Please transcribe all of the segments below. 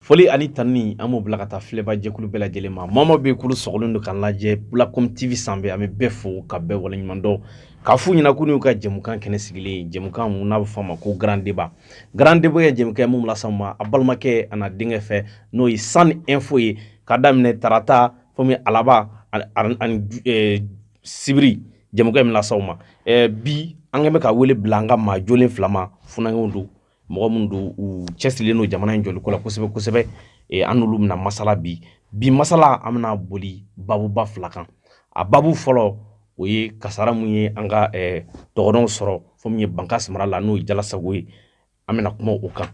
Foli ani tanuni an b'o bila ka taa filɛbajɛkulu bɛɛ lajɛlen ma maa o maa bɛ yen k'olu sɔgɔlen don k'an lajɛ Bulacom TV sanfɛ an bɛ bɛɛ fo ka bɛɛ waleɲuman dɔn k'a f'u ɲɛna ko n'u ka jɛmukan kɛnɛ sigilen ye jɛmukan mun n'a bɛ fɔ a ma ko grand débat grand débat ye jɛmukan ye mun bɛ las'aw ma a balimakɛ a n'a denkɛ fɛ n'o ye San Info ye k'a daminɛ tarata fo min alaba ani eh, sibiri jɛmukan in bɛ las'aw ma eh, bi an kɛn bɛ ka wele bila an ka maa jɔlen fila ma funankɛw don mɔgɔ minnu don u cɛsirilen don jamana in jɔliko la kosɛbɛ kosɛbɛ e, an n'olu bɛna masala bi bi masala an bɛna boli babuba fila kan a babu fɔlɔ o ye kasara mun ye an ka e, dɔgɔnɔw sɔrɔ fo min ye bankasi mara la n'o ye jalasago ye an bɛna kuma o kan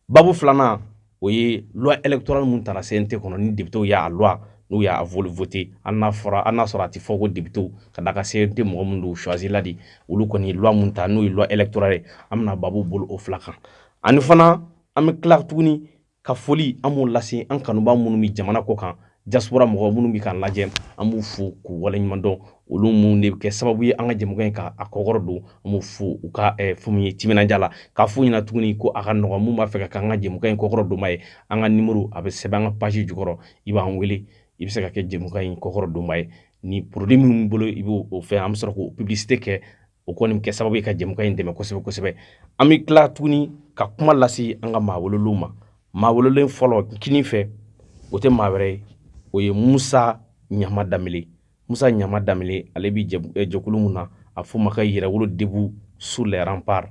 babu filanan o ye loi électorale mun tara CNT kɔnɔ ni députés y'a loi n'u y'a voté hali n'a fɔra hali n'a sɔrɔ a tɛ fɔ ko députés ka d'a kan CNT mɔgɔ minnu don choisi la de olu kɔni ye loi mun ta n'o ye loi électorale ye an bɛna babu boli o fila kan ani fana an bɛ tila tuguni ka foli an b'o lase an kanubaa minnu bɛ jamana kɔ kan diaspora mɔgɔ minnu bɛ k'an lajɛ an b'u fo k'u waleɲuman dɔn olu minnu de bɛ kɛ sababu ye an ka jɛmukan in ka a kɔkɔrɔ don an b'u fo u ka eh, fɛn min ye timinandiya la k'a f'u ɲɛna tuguni ko a ka nɔgɔn minnu b'a fɛ ka k'an ka jɛmukan in kɔkɔrɔ donbaa ye an ka nimoro a bɛ sɛbɛn an ka page jukɔrɔ i b'an wele i bɛ se ka kɛ jɛmukan in kɔkɔrɔ donbaa ye ni produit min b'i bolo i b'o fɛn an bɛ sɔrɔ k'o publicité kɛ o kɔni bɛ kɛ sababu ye ka jɛmukan in dɛmɛ kosɛbɛ kosɛbɛ an bɛ tila tuguni ka kuma lase an ka maa wololenw ma maa wololen fɔlɔ kini fɛ o tɛ maa wɛrɛ ye o ye musa ɲama danbele musa ɲama danbele ale bɛ jɛkulu mun na a f'o ma ka yɛrɛwolo debout sur les remparts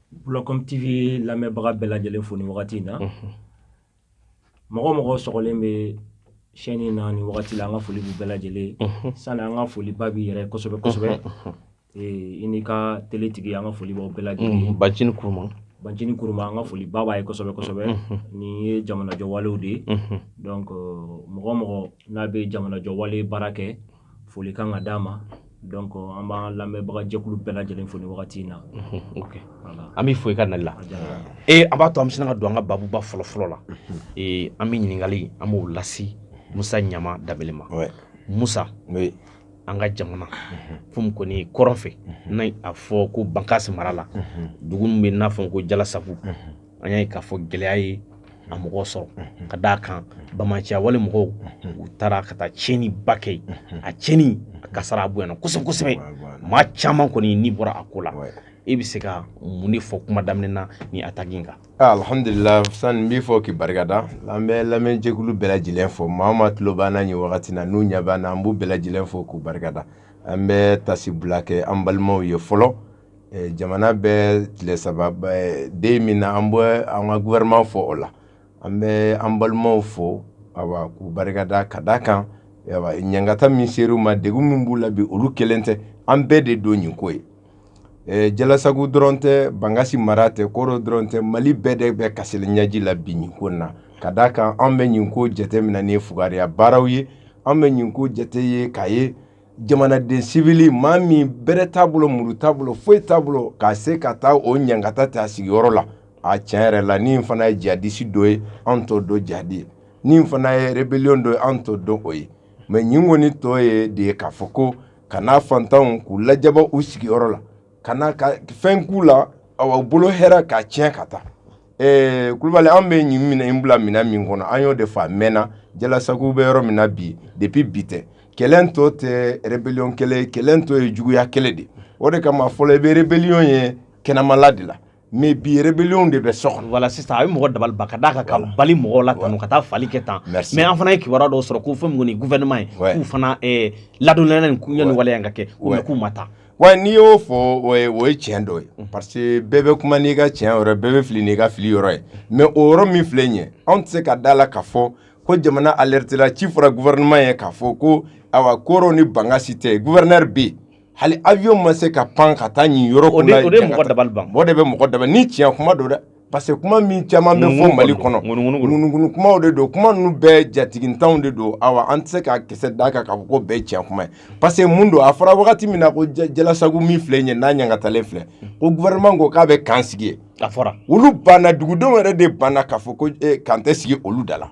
Bulacom TV lamɛnbaga bɛɛ lajɛlen fo ni wagati in na. Unhun. Mɔgɔ o mɔgɔ sɔgɔlen bɛ chaine in na ni wagati la, an ka foli b'u bɛɛ lajɛlen ye. Unhun. Sani an ka foli ba b'i yɛrɛ ye kosɛbɛ kosɛbɛ. Unhun, unhun. Ee i n'i ka tele tigi, an ka foli b'aw bɛɛ lajɛlen ye. Unhun, Bancini Kuruma. Bancini Kuruma, an ka foli ba b'a ye kosɛbɛ kosɛbɛ. Unhun. Nin ye jamanajɔwalew de ye. Unhun. Donc mɔgɔ o mɔgɔ n'a bɛ jamanajɔwale baara kɛ. foli kan ka d'a ma donc an b'an lamɛnbagajɛkulu bɛɛ lajɛlen fo ni wagati in na an b'i fo i ka nali la ee an b'a to an bɛ sina ka don an ka babuba fɔlɔfɔlɔ la ee an bɛ ɲininkali an b'o lasi musa ɲama danbele ma musa an ka jamana fo min kɔni ye kɔrɔn fɛ n'a a fɔ ko bankasi mara la dugu min bɛ n'a fɔ ko jalasago an y'a ye k'a fɔ gɛlɛya ye a mɔgɔ sɔrɔ ka d'a kan banbaanciya wale mɔgɔw u taara ka taa tiɲɛni ba kɛ a tiɲɛni a kasara a bonyana kosɛbɛ kosɛbɛ maa caman kɔni ni bɔra a ko la e bɛ se ka mun de fɔ kuma daminɛ na ni attaque in kan ah, alhamdulila sani n b'i fo k'i barika da an bɛ lamɛnjɛkulu bɛɛ lajɛlen fo maa o maa tulo b'an na nin wagati na n'u ɲɛ b'an na an b'u bɛɛ lajɛlen fo k'u barika da an bɛ tasibila kɛ an balimaw ye fɔlɔ eh, jamana bɛ tile saba eh, deuil min na an bɛ an ka gouvernement fo o la an bɛ an balimaw fo awa k'u barikada ka da kan awa ɲangata min ser'u ma degun min b'u la bi olu kelen tɛ an bɛɛ de don nin ko ye eh, jalasago dɔrɔn tɛ bangasi mara tɛ koro dɔrɔn tɛ mali bɛɛ de bɛ kasili ɲɛji la bi nin ko na ka da kan an bɛ nin ko jateminɛ ni fugariya baaraw ye an bɛ nin ko jate ye k'a ye jamanaden sivili maa min bɛrɛ t'a bolo muru t'a bolo foyi t'a bolo k'a se ka taa o ɲangata ta a sigiyɔrɔ la a tiɲɛ yɛrɛ la ni fana ye jadisi dɔ ye an t'o dɔn jadi ye ni fana ye rebellion dɔ ye an t'o dɔn o ye mais ɲin kɔni tɔ ye de ye k'a fɔ ko ka na fantanw k'u lajaba u sigiyɔrɔ la ka na ka fɛn k'u la awa u bolo hɛrɛ k'a tiɲɛ ka taa ɛɛ kulubali an bɛ ɲin minɛ in bila minɛn min kɔnɔ an y'o de fɔ a mɛnna jalasago bɛ yɔrɔ min na bi depuis bi tɛ kɛlɛ in tɔ tɛ rebellion kɛlɛ ye kɛlɛ in tɔ ye juguya kɛlɛ de o de kama fɔlɔ i bɛ rebellion ye kɛnɛmala de la mais bi rebellion de bɛ so kɔnɔ voilà sisan a bɛ mɔgɔ dabali ban ka d'a kan ka bali mɔgɔw la tan ka taa fali kɛ tan mais an fana ye kibaruya dɔw sɔrɔ ko fɛn min kɔni gouvernement ye k'u fana eh, ladɔnniyalen nin ko yanni waleya in ka kɛ mais k'u ma taa wa n'i y'o fɔ o ye o ye tiɲɛ dɔ ye mm. parce que bɛɛ bɛ kuma n'i ka tiɲɛ yɔrɔ bɛɛ bɛ fili n'i ka fili yɔrɔ ye mais o yɔrɔ min filɛ nin ye anw tɛ se ka da a la k'a fɔ ko jamana alertela ci fɔra gouvernement ye k'a fɔ ko awa koro ni bangasi tɛ gouverneur bɛ yen hali avion ma se ka pan ka taa nin yɔrɔ kunna o de ye mɔgɔ dabali ban o de bɛ mɔgɔ dabali ni tiɲɛ kuma don dɛ parce que kuma min caman bɛ fɔ Mali kɔnɔ ŋunuŋunu kumaw de don kuma ninnu bɛɛ jatigintanw de don awa an tɛ se ka kisɛ d'a kan k'a fɔ ko bɛɛ ye tiɲɛ kuma ye parce que mun don a fɔra wagati min na ko jalasago min filɛ nin ye n'a ɲangatalen filɛ ko gouvernement ko k'a bɛ kan sigi yen a fɔra olu banna dugudenw yɛrɛ de banna k'a fɔ ko kan tɛ sigi olu da la.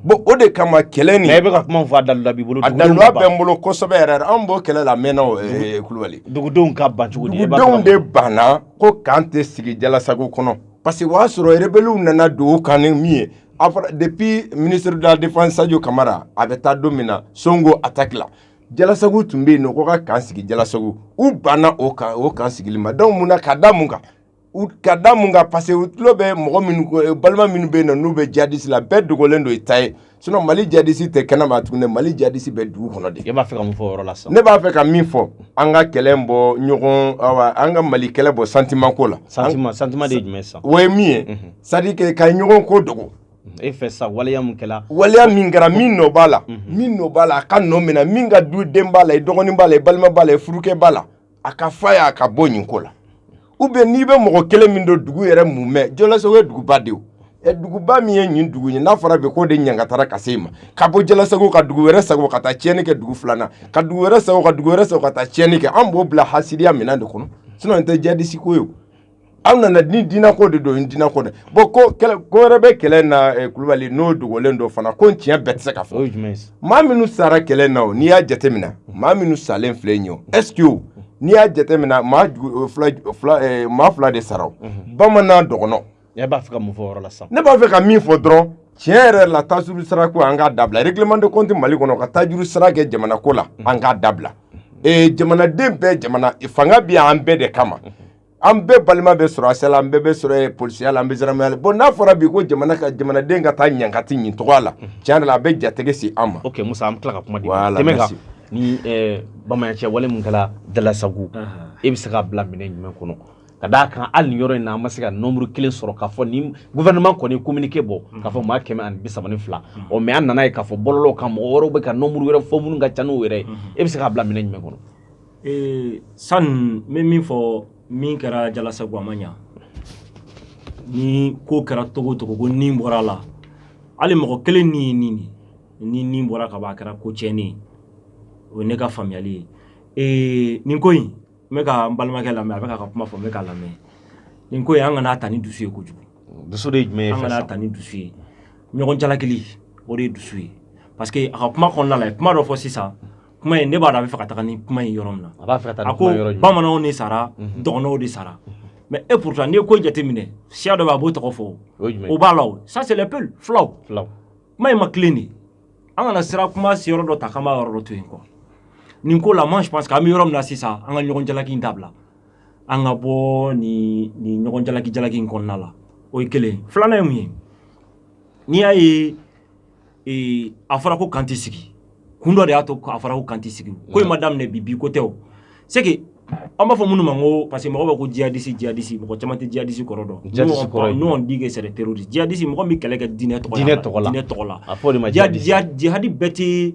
Bon o de kama kɛlɛ nin e bɛ ka kuma fɔ a dalu b'i bolo a dalu bɛ n bolo kosɛbɛ yɛrɛ an b'o kɛlɛ la mɛnna kulubali dugudenw ka ban cogo di dugudenw de banna ko kan tɛ sigi jalasago kɔnɔ parce que o y'a sɔrɔ rebelliw nana don kan ni min ye a fɔra depuis ministre de la défense Sadio Camara a bɛ taa don min na Songho attaque la jalasago tun bɛ yen nɔ ko ka kan sigi jalasago u banna o kan o kan sigili ma donc mun na ka da mun kan ka da mun kan parce que u tulo bɛ mɔgɔ minnu balima minnu bɛ yen na n'u bɛ jadisi la bɛɛ dogolen don i t'a ye sinon mali jadisi tɛ kɛnɛma tuguni mali jadisi bɛ dugu kɔnɔ de e b'a fɛ ka mun fɔ o yɔrɔ la sisan ne b'a fɛ ka min fɔ an ka kɛlɛ bɔ ɲɔgɔn awa an ka mali kɛlɛ bɔ sentiment ko la sentiment sentiment de ye jumɛn sisan o ye min ye mhm. c'est à dire que ka ɲɔgɔn ko dogo e fɛ sa waleya min kɛra waleya min kɛra min nɔ b'a la mhm. min nɔ b'a la a ka nɔ minɛ min ka duden b'a la i dɔgɔnin b'a la i balima b'a la i furukɛ b'a la a k'a f'a y'a ka bɔ nin ko la ou bien n'i bɛ mɔgɔ kelen min dɔn dugu yɛrɛ mumɛ jalasago ye duguba de ye duguba min ye nin dugu ye n'a fɔra bi ko de ɲangatara ka se ma ka bɔ jalasago ka dugu wɛrɛ sago ka taa tiɲɛni kɛ dugu filanan ka dugu wɛrɛ sago ka dugu wɛrɛ sago ka taa tiɲɛni kɛ an b'o bila hasidiya minɛn de kɔnɔ sinon a tɛ djihadiste ko ye aw nana ni diinɛko de don diinɛko dɛ bon ko ko wɛrɛ bɛ kɛlɛ na eh, kulubali n'o dogolen don fana ko tiɲɛ bɛɛ tɛ se ka fɔ maa minnu sara kɛlɛ na o n'i y'a jateminɛ maa minnu salen filɛ nin ye est-ce que n'i y'a jateminɛ maa eh, maa fila de sara mhm. bamanan dɔgɔnɔ ne b'a fɛ ka min fɔ yɔrɔ la sa ne b'a fɛ ka min fɔ dɔrɔn tiɲɛ yɛrɛ la taajuru sara ko an k'a dabila règlement de compte mali kɔnɔ ka taajuru sara kɛ jamana ko la mhm. an k'a dabila mhm. eh, jamanaden bɛɛ jamana fanga bɛ an bɛɛ de kama an bɛɛ balima bɛ sɔrɔ asɛ an bɛɛ bɛ sɔrɔ polisiya la an bɛ gendarmerie la bon n'a fɔra bi ko jamana ka jamanaden ka taa ɲangata nin tɔgɔ la tiɲɛ a bɛ jatigɛ se an ma ok musa an tila ka kuma ni bamanan cɛ wale min kɛra jalasago e bɛ se k'a bila minɛn jumɛn kɔnɔ ka d'a kan hali nin yɔrɔ in na an ma se ka nombre kelen sɔrɔ k'a fɔ ni gouvernement kɔni communiqué bɔ k'a fɔ maa kɛmɛ ani bi saba ni fila o mais an nana ye k'a fɔ bɔlɔlɔw kan mɔgɔ wɛrɛw bɛ ka nombre wɛrɛ fɔ minnu ka ca n'o yɛrɛ ye e bɛ se k'a bila minɛn jumɛn kɔnɔ Ee san n bɛ min fɔ min kɛra jalasago a ma ɲɛ ni ko kɛra cogo cogo ko ni bɔra a la hali mɔgɔ kelen ni ye nin ni ni bɔra ka bɔ a kɛra ko tiɲɛni ye o ye ne ka faamuyali ye ee nin ko in n bɛ ka n balimakɛ lamɛn a bɛ ka kuma fɔ n bɛ k'a lamɛn nin ko an kan'a ta ni dusu ye kojugu dusu de jumɛn an kan'a ta ni dusu ye ɲɔgɔn jalakili o de ye dusu ye parce que a ka kuma kɔnɔna la kuma dɔ fɔ sisan kuma in ne b'a dɔn a b'a fɛ ka taga ni kuma in yɔrɔ min na a b'a fɛ ka taa a ni ko kuma yɔrɔ jumɛn bamananw de sara dɔgɔnɔw de sara mais et pourtant n'i ye ko jateminɛ siya dɔ bɛ a m'o tɔgɔ fɔ o ye jumɛn o ye b'a la o ça c'est les peuls fulaw fulaw kuma in ma tilen de an kana sira kuma se yɔrɔ dɔ ta k'an b'a yɔrɔ dɔ to yen quoi nin ko la moi je pense que an bɛ yɔrɔ min na sisan an ka ɲɔgɔn jalaki in dabila an ka bɔ nin nin ɲɔgɔn jalaki jalaki in kɔnɔna la o ye kelen ye filanan ye mun ye n'i y'a ye ee a fɔra ko kan tɛ sigi kun dɔ de y'a to a fɔra ko kan tɛ sigi ko in ma daminɛ bi bi ko tɛ o c'est que an b'a fɔ minnu ma ko parce que mɔgɔ b'a ko djihadiste djihadiste mɔgɔ caman tɛ djihadiste kɔrɔ dɔn nous on dit que c'est des terroristes djihadiste mɔgɔ min bɛ kɛlɛ kɛ diinɛ tɔgɔ la diinɛ tɔgɔ la a fɔ o de ma djihadiste djihadi bɛɛ tɛ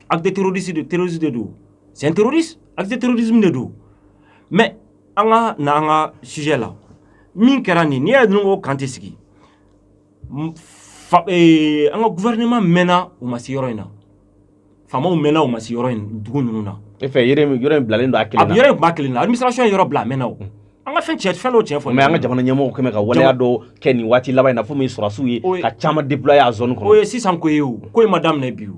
acte de terrorisme de terrorisme de don c'est un terroriste acte de terrorisme de don mais an ka na an ka sujet la min kɛra nin n'i y'a ye ko kan tɛ sigi an ka gouvernement mɛnna u ma se yɔrɔ in na faamaw mɛnna u ma se yɔrɔ in dugu ninnu na. e fɛ yɔrɔ in yɔrɔ in bilalen don a kelen na. a yɔrɔ in kun b'a kelen na administration ye yɔrɔ bila a mɛnna o. an ka fɛn tiɲɛ fɛn dɔw tiɲɛ fɔ. mais an ka jamana ɲɛmɔgɔw quand même ka waleya dɔ kɛ nin waati laban in na fo min sɔrɔdasiw ye ka caman déployer a zone kɔnɔ. o ye sisan ko ye o ko in ma daminɛ bi o.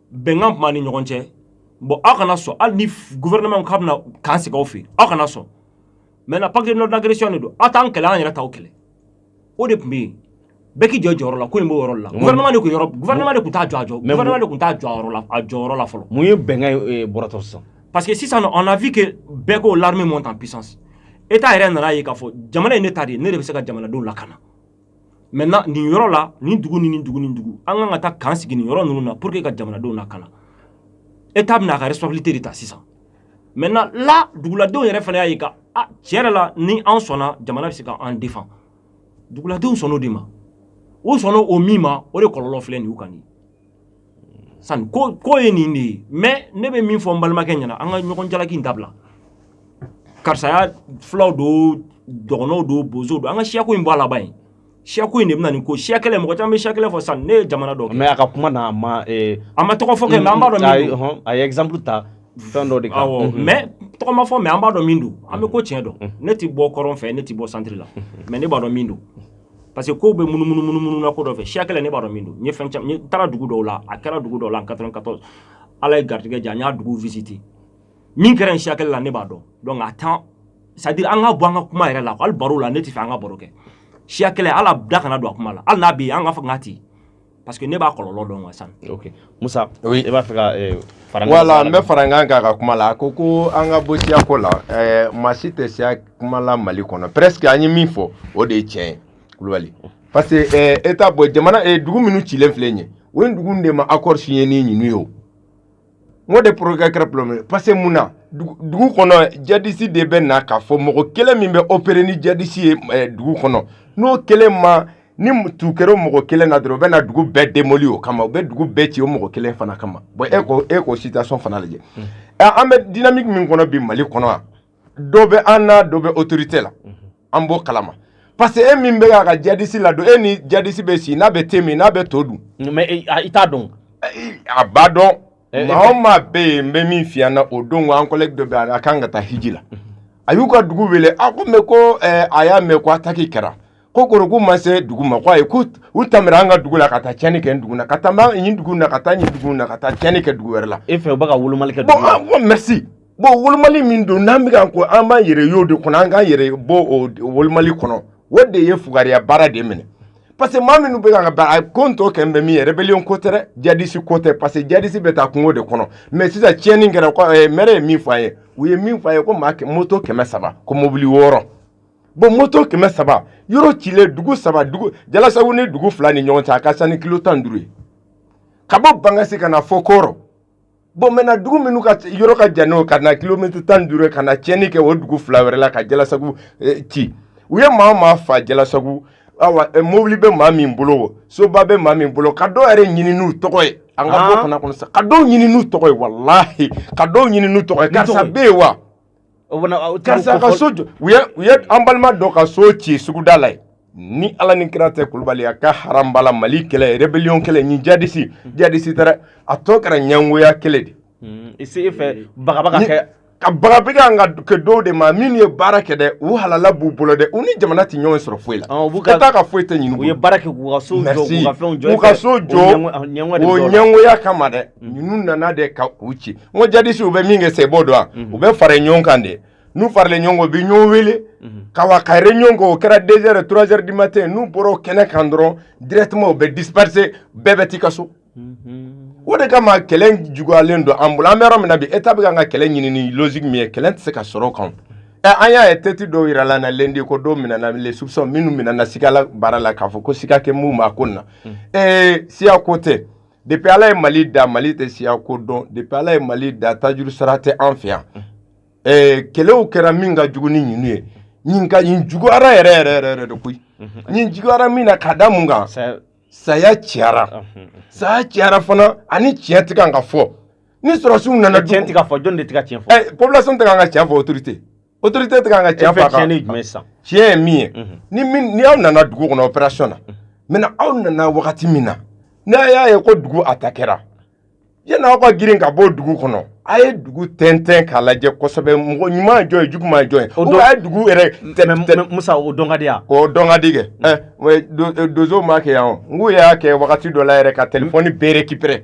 bɛnkan tun b'a ni ɲɔgɔn cɛ bon aw kana sɔn hali ni gouvernement k'a bɛna k'an sigi aw fɛ aw kana sɔn maintenant pacte de non agression de don aw t'an kɛlɛ an yɛrɛ t'aw kɛlɛ o de tun bɛ yen bɛɛ k'i jɔ jɔyɔrɔ la ko in b'o yɔrɔ la gouvernement de tun yɔrɔ gouvernement de tun t'a jɔ a jɔ gouvernement de tun t'a jɔ a yɔrɔ la a jɔyɔrɔ la fɔlɔ mun ye bɛnkan in bɔrɔtɔ sisan parce que sisan on a vu que bɛɛ ko l'armée monte en puissance état yɛrɛ nana ye k'a fɔ jamana in ne ta de ye ne de bɛ se ka jamanadenw lakana maintenant nin yɔrɔ la nin dugu ni nin dugu ni dugu an kan ka taa k'an sigi nin yɔrɔ ninnu na pour que ka jamanadenw lakana état bɛna a ka responsabilité de ta sisan maintenant là duguladenw yɛrɛ fana y'a ye ka a tiɲɛ yɛrɛ la ni an sɔnna jamana bɛ se ka an défend duguladenw sɔnn'o de ma u sɔnn'o o min ma o de kɔlɔlɔ filɛ nin y'u kan nin Sani ko ye nin de ye mais ne bɛ min fɔ n balimakɛ ɲɛna an ka ɲɔgɔn jalaki dabila karisaya fulaw don dɔgɔnɔw don bozow don an ka siyako in bɔ a laban ye siyako in de bɛ nin ko siya kɛlɛ mɔgɔ caman bɛ siya kɛlɛ fɔ sisan ne ye jamana dɔ kɛ mais a ka kuma na a ma tɔgɔ fɔ kɛ an b'a dɔn a ye exemple ta fɛn dɔ de kan mais tɔgɔ ma fɔ mais an b'a dɔn min don an bɛ ko tiɲɛ dɔn ne tɛ bɔ kɔrɔn fɛ ne tɛ bɔ centre la mais ne b'a dɔn min don parce que kow bɛ munumunu munumunu na ko dɔ fɛ siya kɛlɛ ne b'a dɔn min don n ye fɛn caman n taara dugu dɔw la a kɛra dugu dɔw la en 94 ala ye garijɛgɛ diya n y'a dugu visiter min kɛra yen siya kɛlɛ la ne b'a dɔn donc a temps c'est à dire an k'a bɔ an ka kuma yɛrɛ la hali baro la ne tɛ fɛ an ka baro kɛ siya kɛlɛ la an da kana don a kuma la hali n'a bɛ yen an k'a fɔ k'a tɛ parce que ne b'a kɔlɔlɔ dɔn wa san ok musa oui. e b'a fɛ ka eh, fara voilà n bɛ fara n kan k'a ka kuma la a ko ko an ka bɔ siyako la eh, maa si tɛ siya kuma la mali kɔnɔ presque an ye min fɔ o de ye tiɲɛ ye kulubali parce que eh, état bon jamana eh, dugu minnu cilen filɛ nin ye o ye dugu de ma accord signé ni ninnu ye o N de problème kɛra parce que mun na dugu kɔnɔ jadisi de bɛ na k'a fɔ mɔgɔ kelen min bɛ opérer ni jadisi ye dugu kɔnɔ n'o kelen ma ni tu kɛra mɔgɔ kelen na dɔrɔn u bɛ na dugu bɛɛ démoli o kama u bɛ dugu bɛɛ ci o mɔgɔ kelen fana kama bon e ko situation fana lajɛ an bɛ dynamique min kɔnɔ bi mali kɔnɔ yan dɔ bɛ an na dɔ bɛ autorité la an b'o kalama parce que e min bɛ k'a ka jadisi ladon e ni jadisi bɛ si n'a bɛ te min n'a bɛ to dun mais e, i t'a dɔn a b'a dɔn eh, eh, maa o eh. maa bɛ yen n bɛ min f'i ɲɛna o don an collègue dɔ bɛ yen a kan ka taa hiji la mhm. a y'u ka dugu wele a ko mais ko a y'a mɛn ko attaque kɛra ko k'u ma se dugu ma ko ayi ko u tɛmɛra an ka dugu la ka taa tiɲɛni kɛ dugu na ka taa nin dugu na ka taa nin dugu na ka taa tiɲɛni kɛ dugu wɛrɛ la e fɛ u bɛ ka wolomali kɛ dugu la bon merci bon wolomali min don n'an bɛ kan ko an b'an yɛrɛ y'o de kɔnɔ an k'an yɛrɛ bɔ o wolomali kɔnɔ o de ye fugariya baara de minɛ parce que maa minnu bɛ ka baara ko tɔ kɛ n bɛ min ye rébellion ko tɛ jadisi ko tɛ parce que jadisi bɛ taa kungo de kɔnɔ mais sisan tiɲɛni kɛra maire ye min fɔ an ye u ye min fɔ an ye ko maa moto kɛmɛ saba ko mobili wɔɔrɔ bon moto kɛmɛ saba yɔrɔ cilen dugu saba jalasago ni dugu fila ni ɲɔgɔn cɛ a ka ca ni kilo tan duuru ye ka bɔ bangasi ka na fɔ kɔrɔ bon maintenant dugu minnu ka yɔrɔ ka jan n'o ka na kilomètre tan ni duuru ka na tiɲɛni kɛ o dugu fila wɛrɛ la ka jalasago ci u ye maa maa fa jalasago awa mobili bɛ maa min bolo soba bɛ maa min bolo ka dɔw yɛrɛ ɲini n'u tɔgɔ ye an ka bɔ fana kɔnɔ sa ka dɔw ɲini n'u tɔgɔ ye walahi ka dɔw ɲini n'u tɔgɔ ye karisa bɛ yen wa Karisa ka so jɔ u ye an balima dɔ ka so ci suguda la yen ni ala ni kira tɛ kulubali a ka haram bala mali kɛlɛ ye rébellion kɛlɛ ni jadisi jadisi taara a tɔ kɛra ɲɛngoya kɛlɛ de e fɛ ka bagabaga an ka kɛ dɔw de ma minnu ye baara kɛ dɛ u halala b'u bolo dɛ u ni jamana tɛ ɲɔgɔn sɔrɔ foyi la état ka foyi tɛ ɲini u ye baara kɛ k'u ka so jɔ k'u ka so jɔ ɲɛngoya kama dɛ ninnu nana de ka u ci n ko jadisi u bɛ min kɛ sa e b'o dɔn wa u bɛ fara ɲɔgɔn kan de n'u faralen ɲɔgɔn kan u bɛ ɲɔgɔn wele ka wa ka réunion kɛ o kɛra deux heures trois heures du matin n'u bɔra o kɛnɛ kan dɔrɔn directement u bɛ disperser bɛɛ bɛ t'i ka so o de kama kɛlɛ juguyalen don an bolo an bɛ yɔrɔ min na bi état bɛ ka kɛlɛ ɲini ni logique min ye kɛlɛ tɛ se ka sɔrɔ o kan ɛ an y'a ye tɛti dɔw jira la na lundi ko dɔw minɛna soupçons minnu minɛna sigala baara la k'a fɔ ko siga kɛ minnu ma ko na ee siya ko tɛ Depuis ala ye mali da mali tɛ siya ko dɔn depuis ala ye mali da tajuru sara tɛ an fɛ yan kɛlɛw kɛra min ka jugu ni ninnu ye nin juguyara yɛrɛ yɛrɛ yɛrɛ de koyi nin juguyara min na ka da mun kan saya ciyara saya ciyara fana ani tiɲɛ tɛ kan ka fɔ ni sɔrɔsiw nana tiɲɛ tɛ ka fɔ jɔn de tɛ ka tiɲɛ fɔ population tɛ kan ka tiɲɛ fɔ autorité autorité tɛ ka tiɲɛ fɔ tiɲɛ jumɛn sa tiɲɛ ye min ye ni aw nana dugu kɔnɔ opération na maintenant aw nana wagati min na n'a y'a ye ko dugu attaquera yanni aw ka girin ka bɔ dugu kɔnɔ a ye dugu tɛntɛn k'a lajɛ kosɛbɛ mɔgɔ ɲuman jɔn ye juguman jɔn ye o a ye dugu yɛrɛ musa o dɔn ka di yan o dɔn ka di kɛ ɛ donso m'a kɛ yan n k'u y'a kɛ wagati dɔ la yɛrɛ ka téléphone bɛɛ récupérer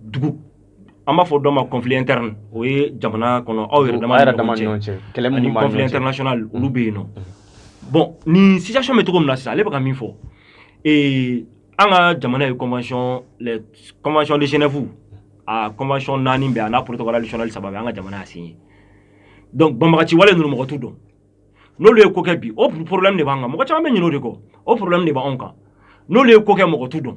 dugu an b'a fɔ dɔ ma kɔnfi tɛ o ye jamana kɔnɔ aw yɛrɛ kɔnfitɛrsonauna olu bɛ yen nɔ bɔn nin sison bɛ cogo min na sisan ale bɛ ka min fɔ ee an ka jamana ye kɔnɔnconconc de senfu a kɔnɔnconc naani bɛ n'a ptɔkaralicli saba an ka jamana sin ye dɔnku banbaga ci wale numukɔtu dɔn n'olu ye ko kɛ bi o porola de b'an kan mɔgɔ caman bɛ ɲinin de kɔ o porola de b'an kan n'o ye ko kɛ mɔgɔtu dɔn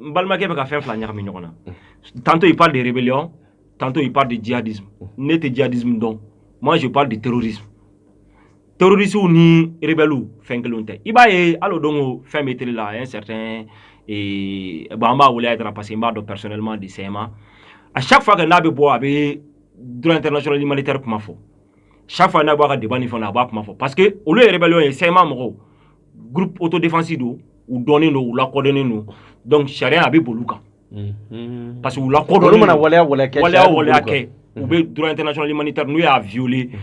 n balimakɛ bɛ ka fɛn fila ɲagami ɲɔgɔn na tantôt il parle de rébellion tantôt il parle de djihadisme ne tɛ djihadisme dɔn moi je parle de terrorisme terrorisiw ni rebɛliw fɛn kelenw tɛ i b'a ye hali o don ko fɛn bɛ tele la un certain eh, bon an b'a wele a dara parce que n b'a dɔn personnellement de CMA à chaque fois que n'a bɛ bɔ a bɛ droit international humanitaire kuma fɔ chaque fois n'a b'a ka débat ni fɛnw na a b'a kuma fɔ parce que olu ye rebellion ye CMA mɔgɔw groupe autodéfense don u dɔnnen don u lakodɔnnen don donc sariya a bɛ boli u kan mhm. parce que u lakodɔnnen mana waleya waleya kɛ waleya waleya kɛ u mhm. bɛ droit international humanitaire n'u y'a violer mhm.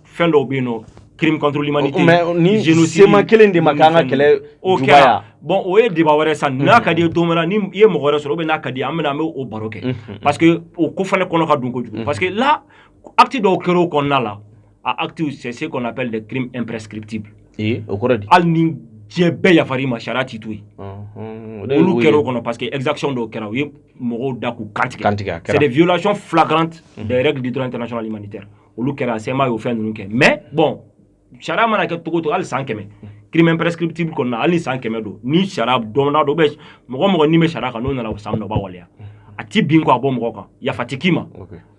fɛn dɔw bɛ yen nɔ crime contre l'humanité ni CMA kelen de ma k'an ka kɛlɛ jugaya bon o ye débat wɛrɛ sa n'a ka d'i ye don wɛrɛ ni i ye mɔgɔ wɛrɛ sɔrɔ ou bien n'a ka d'i ye an bɛna an bɛ o baro kɛ parce que o ko fana kɔnɔ ka dun kojugu parce que là acte dɔw kɛra o kɔnɔna la a actes c'est ce qu'on appelle des crimes imprescriptibles ee o kɔrɔ di hali ni diɲɛ bɛɛ yafar'i ma sariya t'i to yen olu kɛra o kɔnɔ parce que exaction dɔw kɛra u ye mɔgɔw da k'u kantigɛ c'est des violations flagrantes mhm. des règles du droit international humanitaire olu kɛra CMA y'o fɛn ninnu kɛ mais bon sariya mana kɛ cogo o cogo hali san kɛmɛ mhm. crime imprescriptible kɔnɔna hali ni san kɛmɛ don ni sariya dɔnna dɔ bɛ mɔgɔ mɔgɔ min bɛ sariya kan n'o nana o san minɛ o b'a waleya mhm. a ti bin ko a bɔ mɔgɔ kan yafa ti k'i ma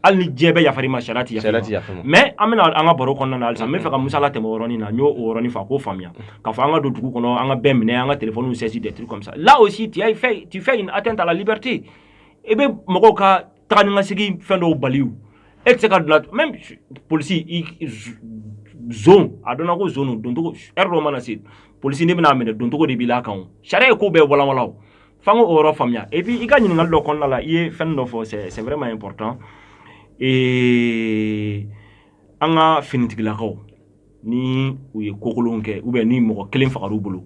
hali ni diɲɛ bɛɛ yafar'i ma sariya ti yafa mais an bɛna an ka baro kɔnɔna na halisa n b'a fɛ ka musa latɛmɛ o yɔrɔnin na n y'o o yɔrɔnin fɔ a k'o faamuya k'a fɔ an ka don dugu kɔnɔ an ka bɛɛ minɛ an ka téléphone saisir des trucs comme ça là aussi tu as fait tu fais une atteinte à la liberté i bɛ mɔgɔw ka taga ni ka segin fɛn dɔw bali o e tɛ se ka bila même polisi i zon a dɔnna ko zon don doncogo heure dɔ mana se polisi ne bɛna minɛ doncogo de b'i la kan o sariya ye ko bɛɛ walanwalan o F'an k'o yɔrɔ faamuya et puis i ka ɲininkali dɔ kɔnɔna la i ye fɛn dɔ fɔ c'est c'est vraiment important ee an ka finitigilakaw ni u ye kokolonw kɛ ou bien ni mɔgɔ kelen fagar'u bolo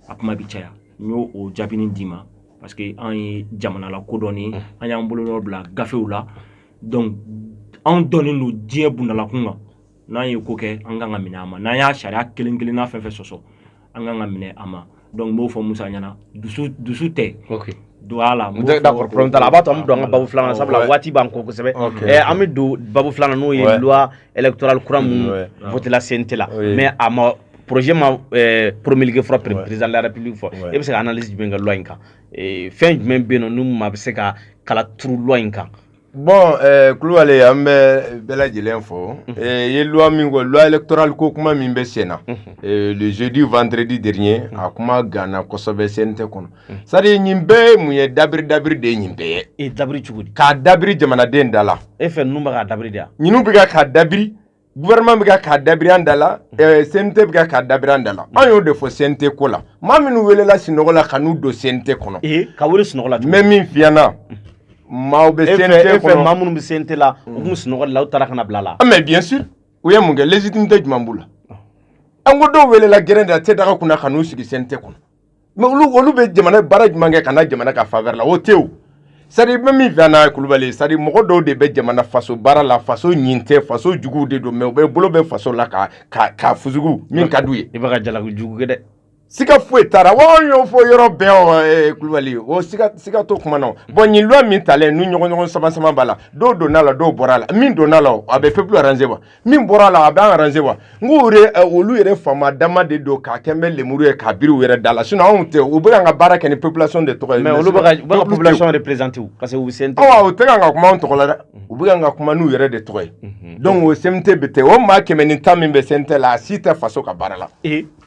a kuma bi caya n y'o o jaabinin d'i ma parce que an ye jamana lakodɔnnen an y'an bolonɔ bila gafew la donc anw dɔnnen don diɲɛ bunda la kun kan n'an ye ko kɛ an kan ka minɛ a ma n'an y'a sariya kelen kelenna fɛn fɛn sɔsɔ an kan ka minɛ a ma donc n b'o fɔ musa ɲɛ na dusu dusu tɛ okay. don a la d'accord problème t'a la a b'a to an bɛ don an ka babu filanan sabula waati b'an kɔ kosɛbɛ eh, an bɛ don babu filanan n'o ye loi électorale kura minnu votela CNT la mais a ma projet ma eh, promulgué fɔlɔ président de la république fɛ e bɛ se ka analyse jumɛn kɛ loi in kan eh, fɛn jumɛn bɛ yen nɔ ni maa bɛ se ka kala turu loi in kan bon eh, kulubali an bɛ bɛɛ lajɛlen fo mhm. eh, ye loi min ko loi électorale ko kuma min bɛ sen na mhm. eh, le jeudi vendredi dernier mhm. a kuma ganna kosɛbɛ CNT kɔnɔ c'est-à-dire nin bɛɛ ye mun ye dabiri dabiri de ye nin bɛɛ ye e dabiri cogo di k'a dabiri jamanaden da la e fɛ ninnu bɛ k'a dabiri de ya ninnu bɛ ka k'a dabiri gouvernement bɛ ka k'a dabiri an da la ɛɛ CNT bɛ ka k'a dabiri an da la an y'o de fɔ CNT ko la maa minnu welela sinɔgɔ la ka n'u don CNT kɔnɔ ee ka wele sunɔgɔ la n bɛ min f'i ɲɛna maaw bɛ e fɛ CNT e fɛ maa kɔnɔ minnu bɛ CNT la u tun bɛ sunɔgɔ de la u taara ka na bila a la Ah, mais bien sûr u ye mun kɛ légitimité jumɛn b'u la an ko dɔw welela gɛrɛn de la te daga kunna ka n'u sigi CNT kɔnɔ mais olu olu bɛ jamana baara jumɛn kɛ ka na jamana ka faveur la o tɛ c'est-à-dire n bɛ min f'i ɲɛna Kulubali c'est-à-dire mɔgɔ dɔw de bɛ jamana faso baara la faso ɲin tɛ faso jugu de don mais u bɛ bolo bɛ faso la ka ka fɔ sugu min ka d'u ye i bɛ jalaki jugu kɛ dɛ siga foyi t'a la wa an y'o fɔ yɔrɔ bɛɛ Kulubali o siga t'o kuma na bon nin loi min talen n'u ɲɔgɔn ɲɔgɔn sama sama b'a la dɔw donna la dɔw bɔra a la min donna la a bɛ peuple arranger wa min bɔra la a bɛ an arranger wa n ko olu yɛrɛ faama dama de don k'a kɛ bɛ lemuru ye k'a biri u yɛrɛ da la sinon anw tɛ u bɛ ka baara kɛ ni population de tɔgɔ ye mais olu bɛ population représenter parce que u CNT u tɛ ka kuma anw tɔgɔ la dɛ u bɛ ka kuma n'u yɛrɛ de tɔgɔ ye donc o CNT bɛ ten o maa kɛmɛ ni tan min bɛ CNT la a si tɛ faso ka baara la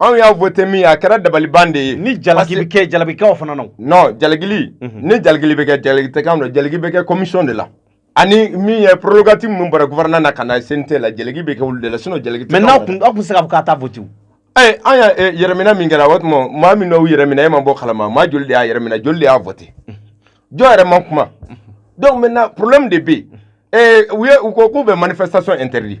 anw y'a voté min a kɛra dabaliban de ye ni jalaki bɛ kɛ jalaki k'aw fana na non jalakili mhm. ni jalakili bɛ kɛ jalaki tɛ k'an na jalaki bɛ kɛ commission de la ani min ye prérogative minnu bɔra gouvernement na ka na CNT la jalaki bɛ kɛ olu de la sinon jalaki tɛ mais n'aw kun aw kun se ka fɔ k'a ta voté ee an y'a eh, yɛrɛminɛ min kɛra o tuma maa min n'aw yɛrɛminɛ e ma b'o kalama maa joli de y'a yɛrɛminɛ joli de y'a voté mhm. jɔn yɛrɛ ma kuma mhm. donc maintenant problème de bɛ yen eh, u ye u ko k'u bɛ manifestation interdit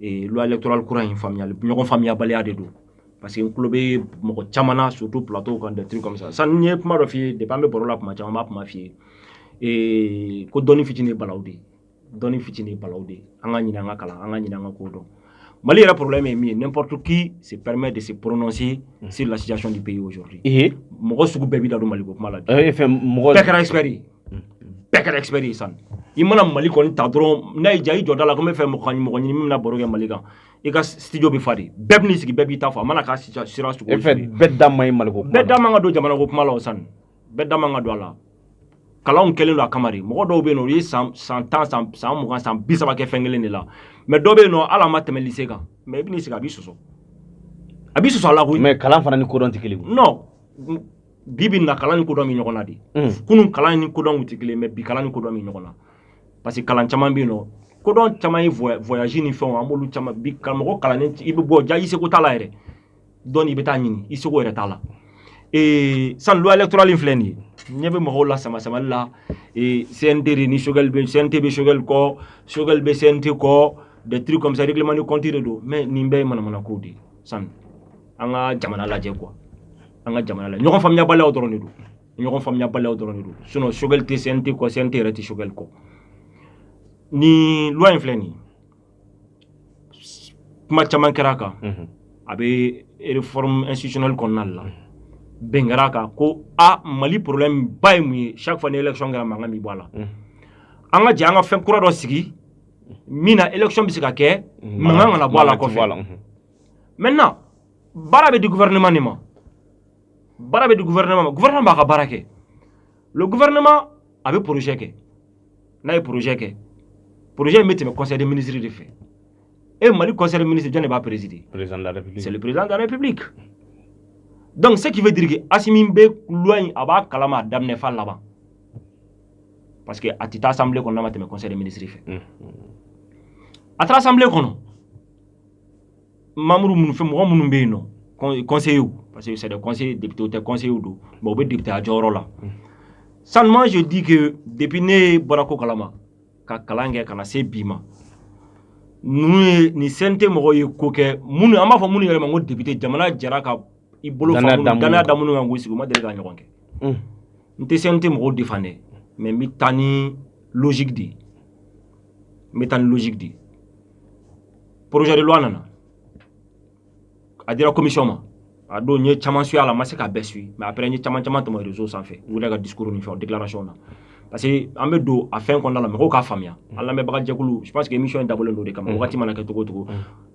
loi électorale kura in faamuyali ɲɔgɔn faamuyabaliya de don parce que n tulo bɛ mɔgɔ caman na surtout plateau kan des trucs comme ça sani n ye kuma dɔ f'i ye depuis an bɛ baro la kuma caman n b'a kuma f'i ye ko dɔnni fitinin ye balawu de ye dɔnni fitinin ye balawu de ye an k'a ɲini an ka kalan an k'a ɲini an ka ko dɔn Mali yɛrɛ problème ye min ye n'importe qui se permet de se prononcer sur la situation du pays aujourd'hui mɔgɔ sugu bɛɛ b'i da don Mali ko kuma la bi bɛɛ kɛra expert ye bɛɛ kɛra expert ye san i mana Mali ko nin ta dɔrɔn n'a y'i diya i jɔ da la ko n bɛ fɛ mɔgɔ mɔgɔ ɲini min bɛna baro kɛ Mali kan i ka studio bɛ fa de bɛɛ bɛn'i sigi bɛɛ b'i ta fɔ a mana k'a sira sira sugu e fɛ bɛɛ da man ɲi Mali ko kuma bɛɛ da man ka don jamana ko kuma la o san bɛɛ da man ka don a la kalanw kɛlen don a kama de mɔgɔ dɔw bɛ yen nɔ u ye san san tan san san mugan san bi saba kɛ fɛn kelen de la mais dɔ bɛ yen nɔ hali a ma tɛmɛ lycée kan mais i bɛn'i sigi a b'i sɔsɔ a b'i sɔsɔ a la koyi mais kalan fana ni kodɔn tɛ kelen non bi bi na kalan ni kodɔn bɛ ɲɔgɔn na de mm. kunun kalan ni kodɔn tɛ kelen mais bi kalan ni kodɔn bɛ ɲɔgɔn na parce que kalan caman bɛ yen nɔ kodɔn caman ye voyage ni fɛnw an b'olu caman bi karamɔgɔ kalannen i bɛ voyager i seko t'a la yɛrɛ dɔnni i bɛ taa ɲini i seko yɛrɛ t'a la ee san loi électorale in filɛ nin ye ɲɛ bɛ mɔgɔw la sama samali la ee CNT de ni Choguel bɛ CNT bɛ Choguel kɔ Choguel bɛ CNT kɔ des trucs comme ça règlement de compte de don mais nin bɛɛ ye manamana kow de ye san an ka jamana lajɛ quoi an ka jamana lajɛ ɲɔgɔn faamuyabaliyaw dɔrɔn de don ɲɔgɔn faamuyabaliyaw dɔrɔn de don sinon Choguel tɛ CNT kɔ CNT yɛrɛ tɛ Choguel kɔ nin loi in filɛ nin kuma caman kɛra a kan a bɛ réforme institutionnelle kɔnɔna de la bɛn kɛra a kan ko a Mali problème ba ye mun ye chaque fois ni élection kɛra mankan bɛ bɔ a la an ka jɛ an ka fɛn kura dɔ sigi min na élection bɛ se ka kɛ mankan kana bɔ a la kɔfɛ. maintenant baara bɛ di gouvernement de ma baara bɛ di gouvernement ma gouvernement b'a ka baara kɛ le gouvernement a bɛ projet kɛ n'a ye projet kɛ projet in bɛ tɛmɛ conseil des ministres de fɛ e mali conseil des ministres jɔn de b'a présider président de la république c'est le président de la république donc ce qui veut dire que Asimi bɛ loi in a b'a kalama a daminɛ f'a laban parce que a tɛ taa assemblée kɔnɔ n'a ma tɛmɛ conseil des ministres fɛ a taara assemblée kɔnɔ mamuru minnu fɛ mɔgɔ minnu bɛ yen nos conseillers parce que c'est des conseillers députés tɛ conseillers don mais u bɛ députéya jɔyɔrɔ la seulement je dis que depuis ne bɔra ko kalama ka kalan kɛ ka na se bi ma ninnu ye nin CNT mɔgɔw ye ko kɛ minnu an b'a fɔ minnu yɛrɛ ma ko député jamana jɛra ka i bolo fa minnu danaya da minnu kan k'u sigi u ma deli k'a ɲɔgɔn kɛ n tɛ CNT mɔgɔw défendre dɛ mais n bɛ taa ni logique de ye n bɛ taa ni logique de ye projet de loi nana a dira commission ma a don n ye caman suivre là n ma se k'a bɛɛ suivre mais après n ye caman caman tɛmɛ réseau sanfɛ u yɛrɛ ka discours ni fɛnw déclaration na parce que an bɛ don a fɛn kɔnɔna la mɔgɔw k'a faamuya an lamɛnbaga jɛkulu je pense que émission in dabɔlen don o de kama wagati mana kɛ cogo o cogo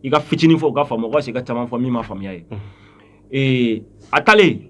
i ka fitinin fɔ u ka faamu o ka fisa ka caman fɔ min ma faamuya ye a taalen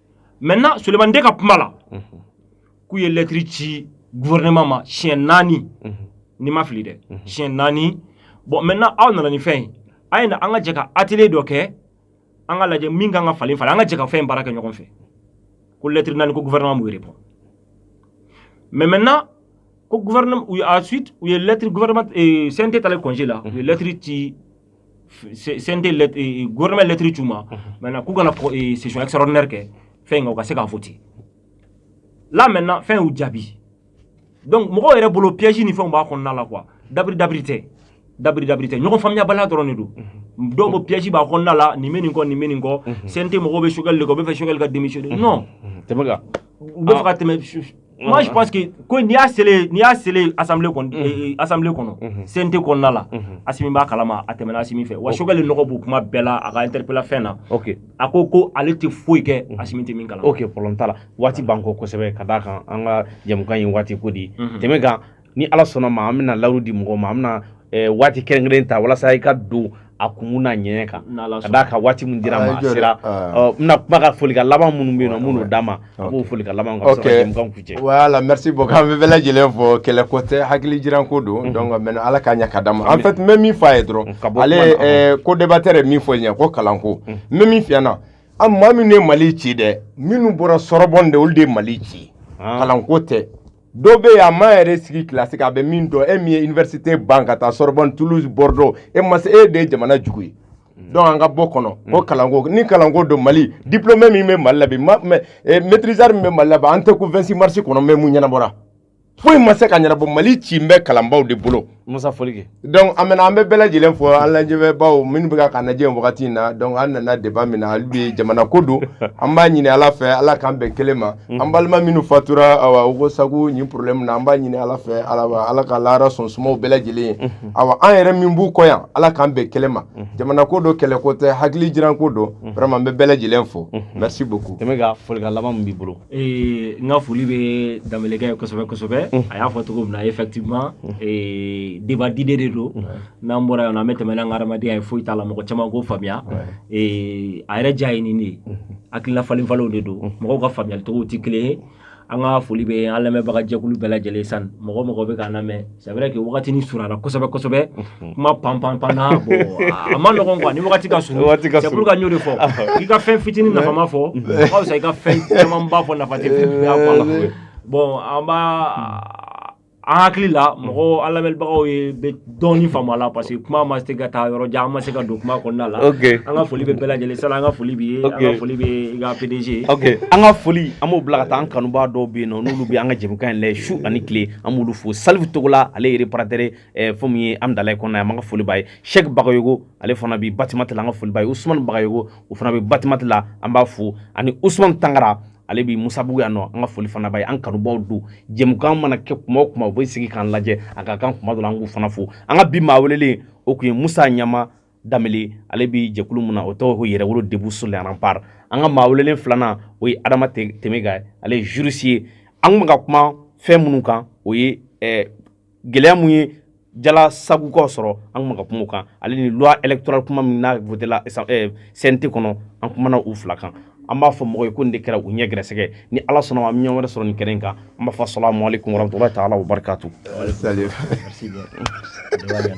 maintenant Souleymane Dé ka kuma la k'u ye lɛtiri ci gouvernement ma siɲɛ naani ni n ma fili dɛ siɲɛ naani bon maintenant aw nana ni fɛn ye a ye na an ka jɛ ka atelier dɔ kɛ an k'a lajɛ min ka kan ka falen falen an ka jɛ ka fɛn baara kɛ ɲɔgɔn fɛ ko lɛtiri naani ko gouvernement m'u répondre mais maintenant ko gouvernement ensuite u ye lɛtiri gouvernement eh, CNT taalen congé la u ye lɛtiri ci CNT euh, gouvernement ye lettre ci u ma maintenant k'u ka na euh, session extraordinaire kɛ fɛn in kan u ka se k'a voter là maintenant fɛn y'u jaabi donc mɔgɔw yɛrɛ bolo piège ni fɛnw b'a kɔnɔna la quoi dɔwɛrɛ dɔwɛrɛ tɛ dɔwɛrɛ dɔwɛrɛ tɛ ɲɔgɔn faamuyabaliya dɔrɔn de don dɔw ko piège b'a kɔnɔna la nin bɛ nin kɔ nin bɛ nin kɔ CNT mɔgɔw bɛ Choguel de kɔ u bɛ fɛ Choguel ka démissionner non tɛmɛ kan u bɛ fɛ ka tɛmɛ Moi, je pense que ko n'i y'a selen n'i y'a selen assemblée kɔnɔ mhm. eh, eh, assemblée kɔnɔ mhm. CNT kɔnɔna la mhm. Asimi b'a kalama a tɛmɛna Asimi fɛ wa Choguel nɔgɔ b'u kuma bɛɛ la a ka interpella fɛn na a ko ko ale tɛ foyi kɛ Asimi tɛ min kalama ok problème t'a la waati b'an kɔ kosɛbɛ ka d'a kan an ka jɛmukan ye waati ko de ye tɛmɛ kan ni ala sɔnna ma an bɛna layidu di mɔgɔ ma an bɛna eh, waati kɛrɛnkɛrɛn ta walasa i ka don a kun n'a ɲɛ kan ka d'a kan waati min dira an ma a sera n bɛna kuma ka folikan laban minnu bɛ yen nɔ minnu d'a ma a b'o folikan laban ka sɔrɔ jɛmukan kuncɛ voilà merci beaucoup an bɛ bɛɛ lajɛlen fo kɛlɛ ko tɛ hakili jiran ko don mhm. donc mɛ ala k'a ɲɛ ka d'a ma en fait n bɛ min fɔ a ye dɔrɔn mm, ale eh, codébatteur ye min fɔ ɲɛ ko kalanko mm. n bɛ min f'i ɲɛna an maa minnu ye mali ci dɛ minnu bɔra Sorbonne de olu de ye mali ci ah. kalanko tɛ dɔ bɛ yen a ma yɛrɛ sigi kilasi kan a bɛ min dɔn e min ye université ban ka taa Sorbonne Toulouse Bordeaux e ma se e de ye jamana jugu ye donc an ka bɔ o kɔnɔ ko kalanko ni kalanko don Mali diplômé min bɛ Mali la bi eh, maîtrisard min bɛ Mali la bi an tɛ ko 26 mars kɔnɔ mɛ mun ɲɛnabɔra foyi ma se ka ɲɛnabɔ Mali cilen bɛ kalanbaaw de bolo Musa foli kɛ donc an bɛna an bɛ bɛɛ lajɛlen fo an lajɛbaaw minnu bɛ k'an lajɛ wagati in na donc an nana débat min na hali bi jamana ko don an b'a ɲini Ala fɛ Ala k'an bɛn kelen ma an balima minnu fatura awa Ogosagu nin problème na an b'a ɲini Ala fɛ Ala ka lahara sɔn suma u bɛɛ lajɛlen ye awa an yɛrɛ min b'u kɔ yan Ala k'an bɛn kelen ma jamana ko don kɛlɛ ko tɛ hakili jiran ko don vraiment an bɛ bɛɛ lajɛlen fo merci beaucoup Temega folikan laban min b'i bolo Ee n ka foli bɛ Danbelekɛ ye kosɛbɛ kosɛbɛ a y'a fɔ cogo min na effectivement débat d'idées de don n'an bɔra yan an bɛ tɛmɛ n'an ka hadamadenya ye foyi t'a la mɔgɔ caman k'o faamuya a yɛrɛ diya ye nin de ye hakilina falenfalen de don mɔgɔw ka faamuyalicogo tɛ kelen ye an ka foli bɛ an lamɛnbagajɛkulu bɛɛ lajɛlen san mɔgɔ o mɔgɔ bɛ k'an lamɛn c'est vrai que wagati nin surunna kosɛbɛ kosɛbɛ kuma pan pan pan na bon a man nɔgɔn quoi ni wagati ka surun c'est pourquoi n y'o de fɔ k'i ka fɛn fitinin nafama fɔ o ka fisa i ka fɛn camanba fɔ nafa tɛ fɛn bɛɛ fɔ a la bon a b'an hakili la mɔgɔ an lamɛnbagaw bɛ dɔɔni faamu a la parce que kuma ma se ka taa yɔrɔ jan an ma se ka don kuma kɔnɔna la an ka foli bɛ bɛɛ lajɛlen sala an ka foli b'i ye an ka foli bɛ i ka PDG ye an ka foli an b'o bila ka taa an kanubaa dɔw bɛ yen nɔ n'olu bɛ an ka jɛmukan in lajɛ su ani tile an b'olu fo salifu togola ale ye réparateur eh, fɛn min ye Hamudalayi kɔnɔna an ka foli b'a ye sɛki bagayogo ale fana bi batimati la an ka foli b'a ye usumani bagayogo o fana bɛ batimati la an b'a fo ani usumani tangara ale bi musabugu yan nɔ an ka foli fana b'a ye an kanubaw don jɛmukan mana kɛ kuma o kuma u bɛ sigi k'an lajɛ a ka kan kuma dɔ la an k'u fana fo an ka bi maa welelen o tun ye musa ɲama Danbele ale bɛ jɛkulu min na o tɔgɔ ko Yɛrɛwolo debout sur les remparts an ka maa welelen filanan o ye Adama Temega ye ale ye juriste ye an tun bɛ ka kuma fɛn minnu kan o ye ɛ gɛlɛya min ye Jalasagukaw sɔrɔ an tun bɛ ka kuma o kan ale ni loi électorale kuma min n'a votera CNT kɔnɔ an kumana u fila kan an b'a fɔ mɔgɔw ye ko nin de kɛra u ɲɛ gɛrɛsɛgɛ ni Ala sɔnna ma an bɛ ɲɔgɔn wɛrɛ sɔrɔ nin kɛnɛ in kan an b'a fɔ asalamualekum warahmatulahi taala wabarakatu.